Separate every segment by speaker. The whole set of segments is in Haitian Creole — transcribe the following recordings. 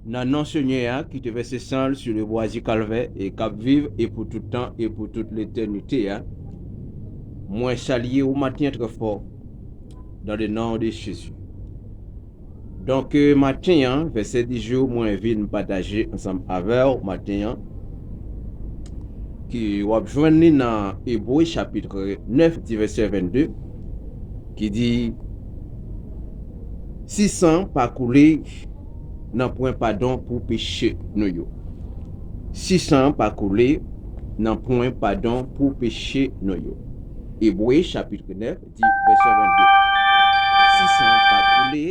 Speaker 1: Nan non Senyè a ki te vèse san l sou le bwa di Kalvè e k ap viv e pou tout tan e pou tout letènite a, mwen salye ou maten an trè fò, dans le nom de Jésus. Donk maten an, vèsè di jou mwen vin pataje ansanm avè w maten an, ki w ap jwenn li nan Ebre chapitre 9 di vèsè 22, ki di, Si san pa koule, nanpwen padon pou peche nou yo. Si san pa koule, nanpwen padon pou peche nou yo. Ebre chapitre 9. Di vèsè 22 Si san an pa koule.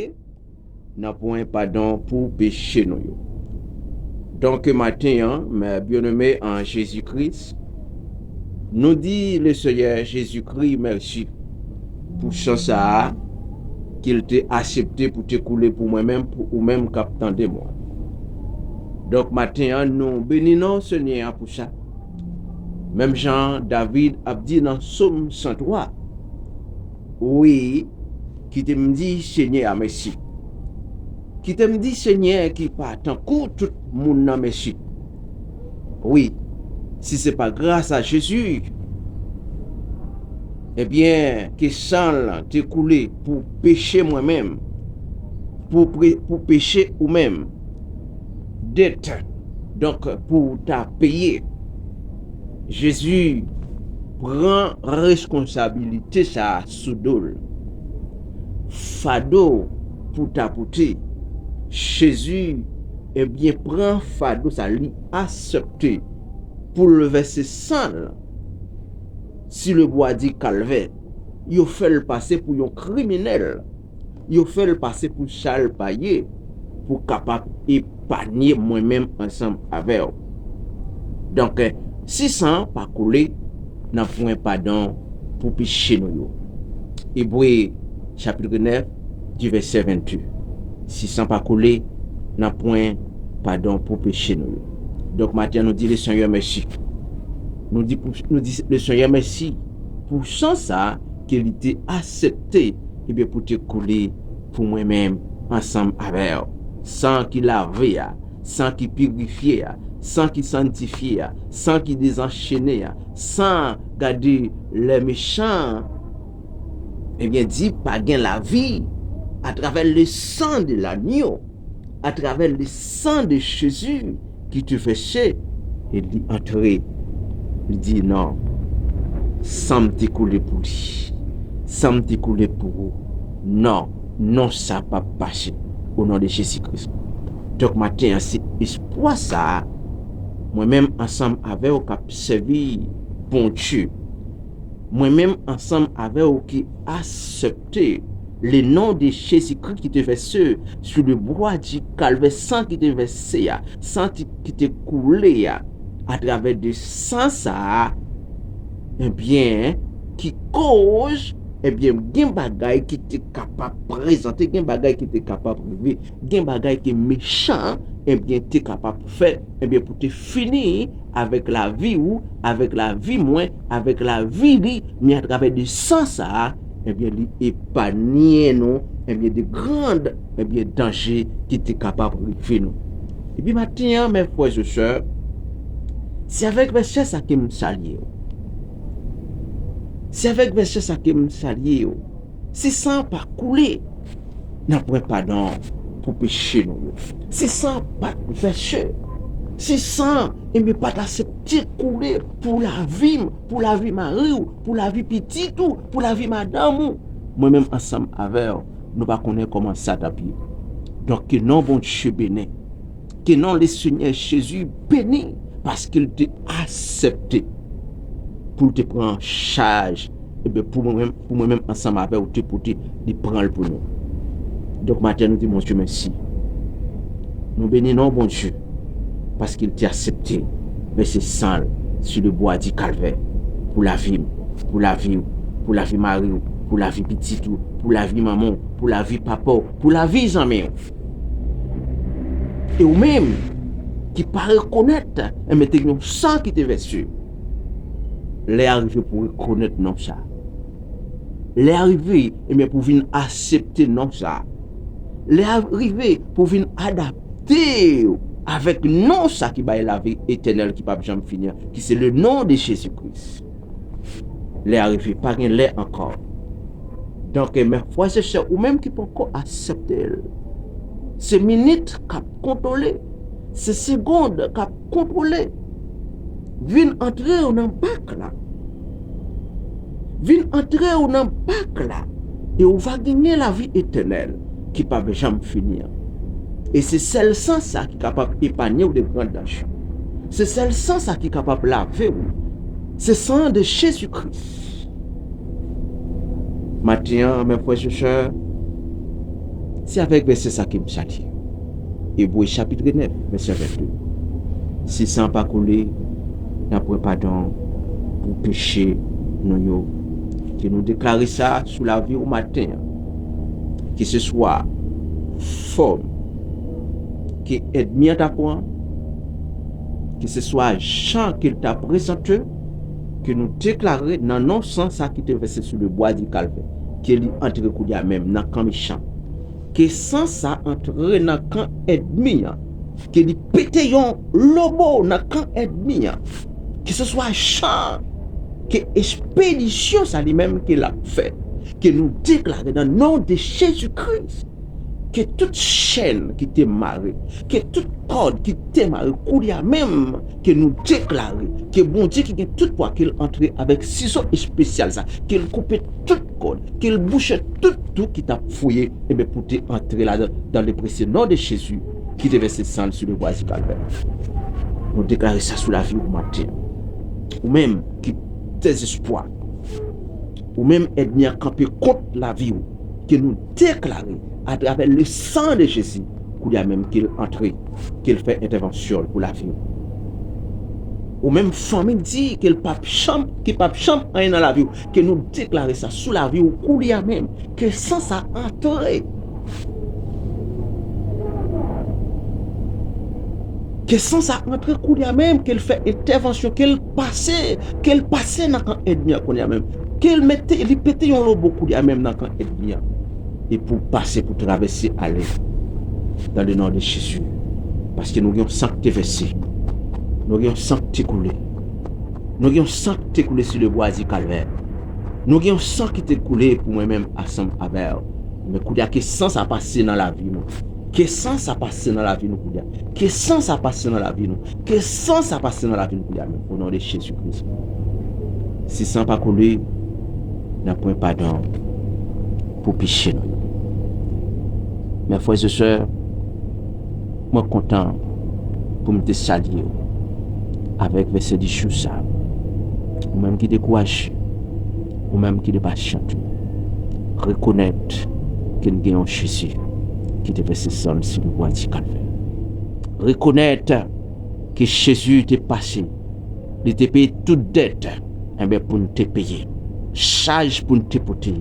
Speaker 1: Nanpwen padon pou peche nou yo. Donk maten an, mè byeneme an Jezi Kris, nou di Le Seyè Jezi Kri mèsi pou san sa a ke L te asepte pou te koule pou mwen menm, pou ou menm k ap tande mwen. Donk maten an, nou beni non Senyè a pou sa. Menm jan an David ap di nan Som 103, Wi, kite m di Senyè a mèsi. Kite m di Senyè ki pa tankou tout moun nan mèsi. Wi, si se pa gras a Jezi, ebyen ke san l te koule pou peche mwen menm, pou peche ou menm. debt donk pou ou ta peye Jezi pran reskonsabilite sa sou dol fado pou ta pote Jezi ebyen pran fado sa li asepte poul vèse sanl si le bwa di kalvè yo fèl pase pou yon kriminèl. yo fè l pase pou sa l pa ye pou kapab epanye mwen menm ansanm avè w. Donk, si san an pa koule, n ap jwenn padon pou peche nou yo. Ebre chapitre 9 di vèsè 28, Si san pa koule, n ap jwenn padon pou peche nou yo. Donk, maten an nou di Lesenyè mèsi. Nou di Lesenyè mèsi pou san sa a. ke li te asepte ebyen pou te koule pou mwen menm ansanm avè w. San ki lave a, san ki pirifye a, san ki santifye a, san ki dezanchene a, san gade lè mechan an, ebyen di pa gen lavi atravè le sang de l'agneau. a travè le san de Jezi ki te vèse, e li antre, li di, non, san m te koule pou li, san m te koule pou ou, non, non sa pa p pase, o non de Jezi Kris. Donk maten an se espwa sa a mwen menm ansanm avè w k ap sèvi Bondye, mwen menm ansanm avè w ki. asepte le non de Jezi Kri ki te vèse sou le bwa di Kalvè, san ki te vèse a, san ki te koule a, atravè de san sa a, ebyen, ki koz, ebyen, gen bagay ki te kapab prezante, gen bagay ki te kapab rive, gen bagay ke mechan, ebyen, te kapab fè, ebyen, pou te fini. avèk lavi ou, avèk lavi mwen, avèk lavi li, men atravè de san sa a, ebyen li epanye nou, ebyen de grand, ebyen danje ki te kapab rive nou. Epi maten an mè frè ze sè, se avèk vèsè sa kem salye yo. Se avèk vèsè sa kem salye yo. Si san an pa koule, n ap pran padon an pou peche nou yo. Si san an pa t vèse, si san an, enben, pa t asepte koule pou lavi m, pou lavi mari w, pou lavi pitit ou, pou lavi madanm ou, mwen menm ansanm avè w, nou pa konnen kòman sa t ap ye. Donk, ke non Bondye beni. Ke non le Senyè Jezi beni paske l te asèpte pou l te pran chaj ebe pou mwen menm pou mwen menm ansanm avè w te pote li pran l pou nou. Donk maten nou di Bondye mèsi. Nou beni non Bondye paske l te asèpte vèse san l sou le bwa di kalvè pou lavi m, pou lavi w, pou lavi mari w, pou lavi pitit ou, pou lavi manman w, pou lavi papa w, pou lavi zanmi w. E ou menm ki pa rekonèt, enben te gen yon san ki te vèse. Lè a rive pou rekonèt non sa. Lè a rive, enben pou vin asepte non sa. Lè a rive pou vin adapte ou avèk non sa ki bay lavi etènèl ki pap janm fini an, ki se le non de Jezi Kris. Lè a rive, pa gen lè ankò. Donk, men frè se sè ou menm ki poko asepte l, se minit k ap kontwole, se segond k ap kontwole, vin antre w nan bak la, vin antre w nan bak la, e ou va genyen lavi etènèl. ki p ap janm fini an. E se sèl san sa ki kapab epanye w de gran danj yo. Se sèl san sa ki kapab lave w. Se san an de Jezi Kris. Maten an, mè frè e sè, se avèk vèsè sa ke m chati yo. Ebre chapitre 9 vèsè 22, Si san pa koule, nan pwen padon pou peche nou yo. Ke nou deklare sa sou lavi w maten an. keseswa fòm ke èdmi an ta pran, keseswa jan ke l ta prezante, ke nou deklare nan non san sa ki te vèse sou le bwa di kalvè, ke li antre kounye a menm nan kan mechan, ke san sa antre nan kan èdmi an, ke li pete yon lobo nan kan èdmi an, keseswa jan ke espedisyon sa li menm ke l ap fè, Ke nou deklare nan non de Jezi Kris ke tout chèn ki te mare, ke tout kòd ki te mare koulye a menm ke nou deklare ke Bondye ki gen tout pwa kel antre avèk sizo espesyal sa kel koupe tout kòd, kel bouche tout tou ki tap fouye enben pou te antre ladan l dan le presye non de Jezi ki te vèse san l sou le bwa di kalvè. Nou deklare sa sou lavi ou maten an. Ou menm ki dezespwa. Ou menm èdmi an kanpe kont lavi ou ke nou deklare atravè le san de Jezi koulya menm ke l antre ke l fè entèvansyon l pou lavi ou. Ou menm fanmi di ke l pap janm ki pap janm anyen nan lavi ou ke nou deklare sa sou lavi ou koulya menm ke san sa antre ke san sa antre koulya menm ke l fè entèvansyon ke l Pase, kel pase nan kan èdmi an kounya menm. Kel mete, li pete yon lobo kounya menm nan kan èdmi an. E pou pase pou travèse ale dan le non de Jezi. Paske nou gen yon san ki te vèse. Nou gen yon san ki te koule. Nou gen yon san ki te koule si le bwa di kalvè. Nou gen yon san ki te koule pou mwen menm asanm avèw. Ebyen kounya ke san sa pase nan lavi nou. Ke san sa pase nan lavi nou kounya. Ke san sa pase nan lavi nou. Ke san sa pase nan lavim koulye a menm onon de jezi kris si san pa koule nan pwen padon pou peche nou yo mè frè ze sè mwen kontan pou m te salye yo avèk vèsè di jou sa ou menm ki dekouraje ou menm ki de pa chant ou rekonèt ke n gen yon jezi ki te vèse sanl sou bwa di kalvè. Rekonèt ke Jezi te pase, li te peye tout dèt enben pou n te peye, chaj pou n te pote,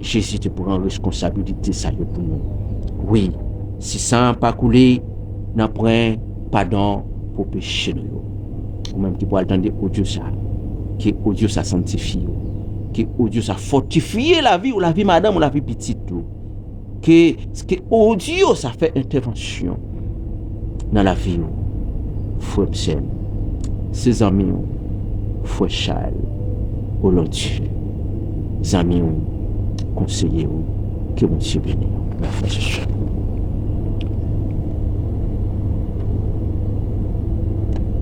Speaker 1: Jezi te pran reskonsabilite sa yo pou nou. Wi, si san an pa koule, nanpwen padon pou peche nou yo. Ou menm ki pwal tande odyo sa, ke odyo sa sanntifye ou, ke odyo sa fòtifye lavi ou, lavi madanm ou, lavi pitit ou. Ke audio sa fè entèvansyon nan lavi w frè m sè m. Se zanmi w frè Charles Olandy zanmi w konseye w ke Bondye beni w mes frères et sœurs.